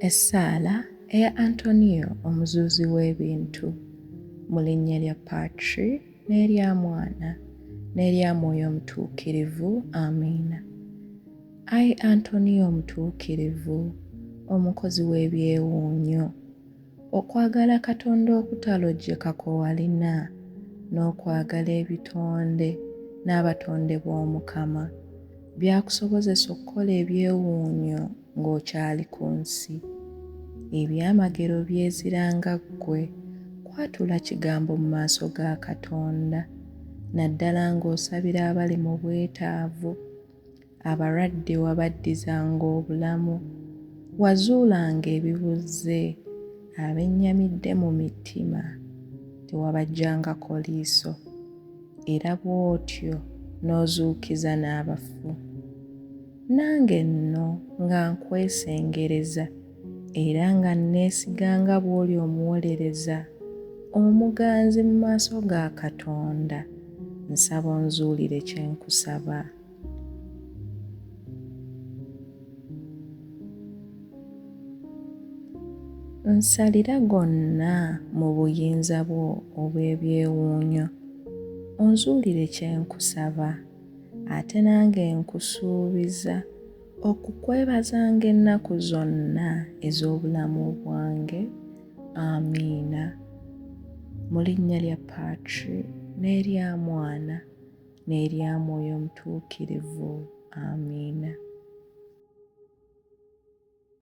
Essaala eya Antonio omuzuuzi w'ebintu mu linnya lya Patri n'erya Mwana n'erya Mwoyo Omutuukirivu. Amiina. Ai Antonio Omutuukirivu, omukozi w'ebyewuunyo, Okwagala Katonda okutalojjeka kwe walina n'okwagala ebitonde n'abatonde b'Omukama, byakusobozesa okukola ebyewuunyo ng'okyali ku nsi. Ebyamagero byezira nga ggwe kwatula kigambo mu maaso ga Katonda, naddala ng'osabira abali mu bwetaavu. Abalwadde wabaddizanga obulamu, wazuulanga ebibuzze, abennyamidde mu mitima tewabaggyangako liiso, era bw'otyo n'ozuukiza n'abafu. Nange nno nga nkwesengereza. era nga nneesiga nga bw'oli omuwolereza omuganzi mu maaso ga Katonda, nsaba onzuulire kye nkusaba. Nsalira gonna mu buyinza bwo obw'ebyewuunyo, onzuulire kye nkusaba, ate nange nkusuubiza. Okukwebazanga ennaku zonna ez'obulamu bwange. Amiina. Mu linnya lya Patri n'erya Mwana n'erya Mwoyo Omutuukirivu. Amiina.